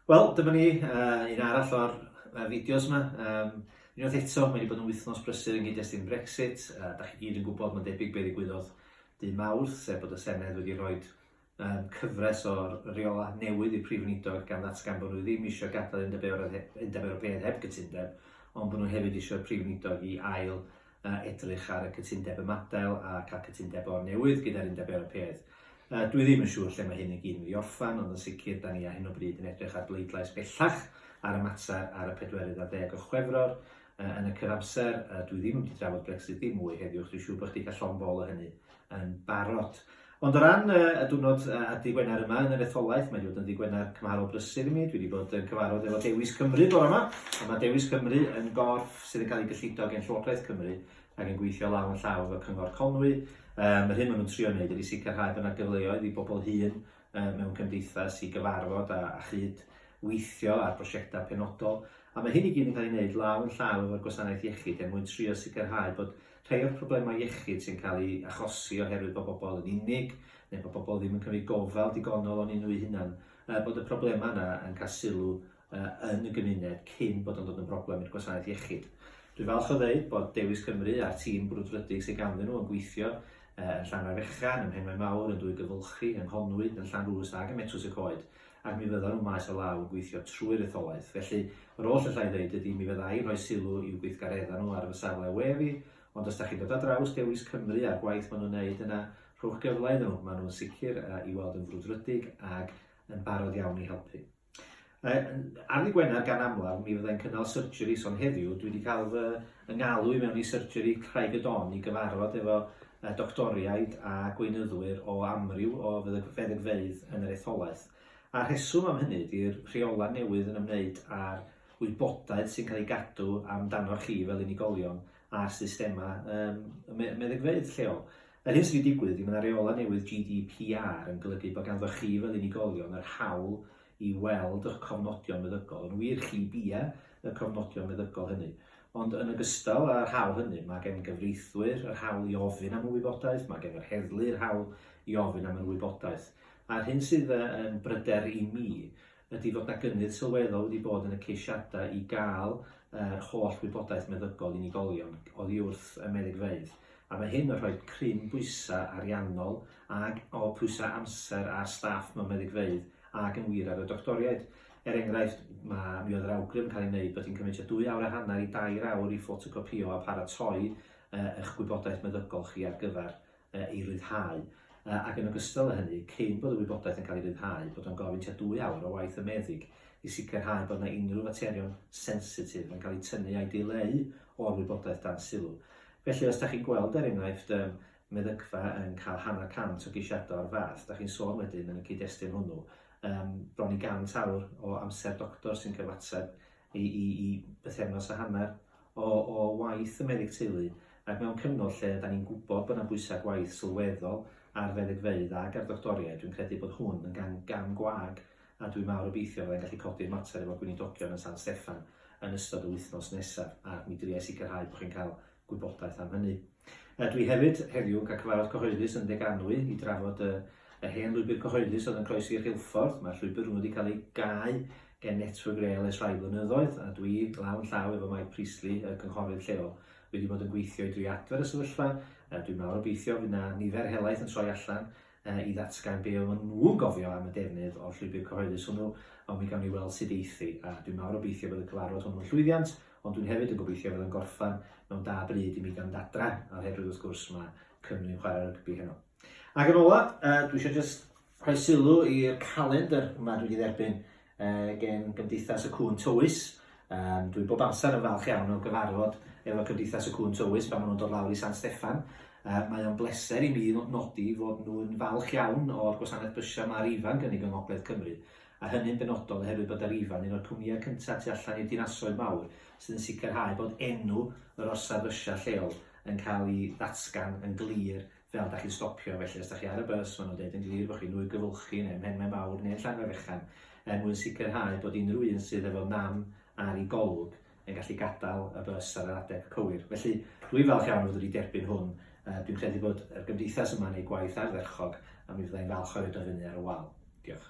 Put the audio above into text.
Wel, dyma ni, uh, un arall o'r uh, fideos yma. Um, unwaith eto, mae wedi bod yn wythnos brysur yn gyd-destun Brexit. Uh, da chi gyd yn gwybod, mae'n debyg beth ddigwyddodd dy mawrth, sef bod y Senedd wedi rhoi um, cyfres o'r reola newydd i'r Prif Weinidog gan ddatgan bod nhw ddim eisiau gadael Undeb Ewropeaidd heb gytundeb, ond bod nhw hefyd eisiau'r Prif Weinidog i ail a edrych ar y cytundeb ymadael a cael cytundeb o'r newydd gyda'r Undeb Ewropeaidd. Yy, dwi ddim yn siŵr lle mae hyn i gyd yn mynd i orffan, ond yn sicr, 'da ni ar hyn o bryd yn edrych ar bleidlais bellach ar y mater ar y pedwerydd ar ddeg o Chwefror. Yy, yn y cyfamser, yy, dwi ddim yn mynd i drafod Brexit ddim mwy heddiw, chos dwi'n siŵr bod chdi cael llond bol o hynny. yn barod. Ond o ran y, y diwrnod a ddi Gwener yma yn yr etholaeth, mae wedi bod yn ddi Gwener cymharol brysur i mi. Dwi wedi bod yn cyfarfod efo Dewis Cymru bore yma, a mae Dewis Cymru yn gorff sydd yn cael ei gyllido gen Llywodraeth Cymru ac yn gweithio law yn llaw efo Cyngor Conwy. Um, yr hyn maen nhw'n trio wneud ydy sicrhau bod yna gyfleoedd i bobl hŷn um, mewn cymdeithas i gyfarfod a, a chyd weithio ar brosiectau penodol. A mae hyn i gyd yn cael ei wneud law yn llaw efo'r gwasanaeth iechyd er mwyn trio sicrhau bod Rhai o'r problemau iechyd sy'n cael eu achosi oherwydd bod pobl yn unig, neu bod pobl ddim yn cymryd gofal digonol onyn nhw'u hunan, er bod y problemau yna yn cael sylw yn y gymuned cyn bod o'n dod yn broblem i'r gwasanaeth iechyd. Dwi'n falch o ddeud bod Dewis Cymru a'r tîm brwdfrydig sydd ganddyn nhw yn gweithio yn Llanfair Fechan, ym Mhenmaenmawr, yn Dwygyfylchi, yng Nghonwy, yn Llanrwst ac ym Metws-y-coed, ac mi fyddan nhw maes o law yn gweithio trwy'r etholaeth. Felly, yr oll alla i ddeud ydi mi fydda i'n rhoi sylw i'w gweithgareddau nhw ar fy safle we fi, ond os 'da chi'n dod ar draws Dewis Cymru a'r gwaith maen nhw'n wneud yna, rhowch gyfle iddyn nhw, maen nhw'n sicr i weld yn frwdfrydig ac yn barod iawn i helpu. Ar ddi Gwener, gan amlaf, mi fydda i'n cynnal surgery, son heddiw dwi wedi cael fy Fy ngalw i mewn i Surgery Craig-y-don i gyfarfod efo doctoriaid a gweinyddwyr o amryw o feddygfeydd yn yr etholaeth. A'r rheswm am hynny ydi'r rheolau newydd yn ymwneud â'r wybodaeth sy'n cael ei gadw amdanoch chi fel unigolion ar systemau um, meddygfeydd lleol. Yr hyn sydd wedi digwydd ydy mae yna reolau newydd GDPR yn golygu bod ganddoch chi fel unigolion yr hawl i weld eich cofnodion meddygol. Yn wir, chi bia y cofnodion meddygol hynny. Ond yn ogystal â'r hawl hynny, mae gen gyfreithwyr yr hawl i ofyn am y wybodaeth, mae gen yr heddlu yr hawl i ofyn am yr wybodaeth. A'r hyn sydd yn bryder i mi ydy fod na gynnydd sylweddol wedi bod yn y ceisiadau i gael yr holl wybodaeth meddygol unigolion oddi wrth y meddygfeydd. a mae hyn yn rhoi cryn bwysau ariannol ac o pwysau amser ar staff mewn meddygfeydd ac yn wir ar y doctoriaid. Er enghraifft, ma, mi oedd yr awgrym yn cael ei wneud bod hi'n cymryd tua dwy awr a hanner i dair awr i ffotocopïo a pharatoi eich gwybodaeth meddygol chi ar gyfer ei ryddhau, ac yn ogystal â hynny, cyn bod y wybodaeth yn cael ei ryddhau, bod o'n gofyn tua dwy awr o waith y meddyg i sicrhau bod 'na unrhyw faterion sensitif yn cael eu tynnu a'u dileu o'r wybodaeth dan sylw. Felly os dach chi'n gweld er enghraifft y meddygfa yn cael hanner cant o geisiadau o'r fath, dach chi'n sôn wedyn yn y cyd-destun hwnnw am bron i gant awr o amser doctor sy'n cyfateb i, i, i bythefnos a hanner o, o waith y meddyg teulu, ac mewn cyfnod lle da ni'n gwybod bod yna bwysau gwaith sylweddol ar feddygfeydd ac ar ddoctoriaid, dwi'n credu bod hwn yn gan gam gwag a dwi mawr obeithio fydda i'n gallu codi'r mater efo Gweinidogion yn San Steffan yn ystod yr wythnos nesaf, a mi dria i sicrhau bod chi'n cael gwybodaeth am hynny. Dw i hefyd heddiw yn cael cyfarfod cyhoeddus yn Ndeganwy i drafod y yr hen lwybr cyhoeddus oedd yn croesi Rheilffordd. Mae'r llwybr hwnnw wedi cael ei gau gen Network Rail ers rhai blynyddoedd, a dwi lawn llaw efo Mike Priestley, y cynghorydd lleol, wedi bod yn gweithio i drio adfer y sefyllfa. Dwi mawr obeithio fydd 'na nifer helaeth yn troi allan i ddatgan be oedden nhw'n gofio am y defnydd o'r llwybr cyhoeddus hwnnw, ond mi gawn ni weld sut eith hi, a dwi'n mawr obeithio bod y cyfarfod hwnnw yn llwyddiant, ond dwi'n hefyd yn gobeithio fydd o'n gorffan mewn da bryd i mi gael mynd adra, oherwydd wrth gwrs mae Cymru'n chwarae rygbi heno. Ac yn ola, uh, dwi eisiau just rhoi sylw i'r calendr yma dwi wedi dderbyn Gen Gymdeithas y Cŵn Tywys. Yym dwi bob amser yn falch iawn o gyfarfod efo Cymdeithas y Cŵn Tywys pan ma' nhw'n dod lawr i San Steffan. Yy mae o'n bleser i mi nodi fod nhw'n falch iawn o'r gwasanaeth bysia ma' Arriva'n gynnig yng Ngogledd Cymru, a hynny'n benodol oherwydd bod Arriva'n un o'r cwmnïau cynta tu allan i'r dinasoedd mawr sydd yn sicrhau bod enw yr orsaf fysia lleol yn cael 'i ddatgan yn glir Fel dach chi'n stopio, felly os dach chi ar y bws, maen nhw'n deud yn glir bod chi'n nwy Gyfylchi neu Mhenmaen Mawr neu'n Llangwr Fechan, er mwyn sicrhau bod unrhyw un sydd efo nam ar i golwg yn gallu gadael y bws ar yr adeg cywir. Felly, dwi'n falch iawn o fod wedi derbyn hwn. Dwi'n credu bod y Gymdeithas yma'n ei gwaith ardderchog a mi fydda i'n falch o roid o fyny ar y wal. Diolch.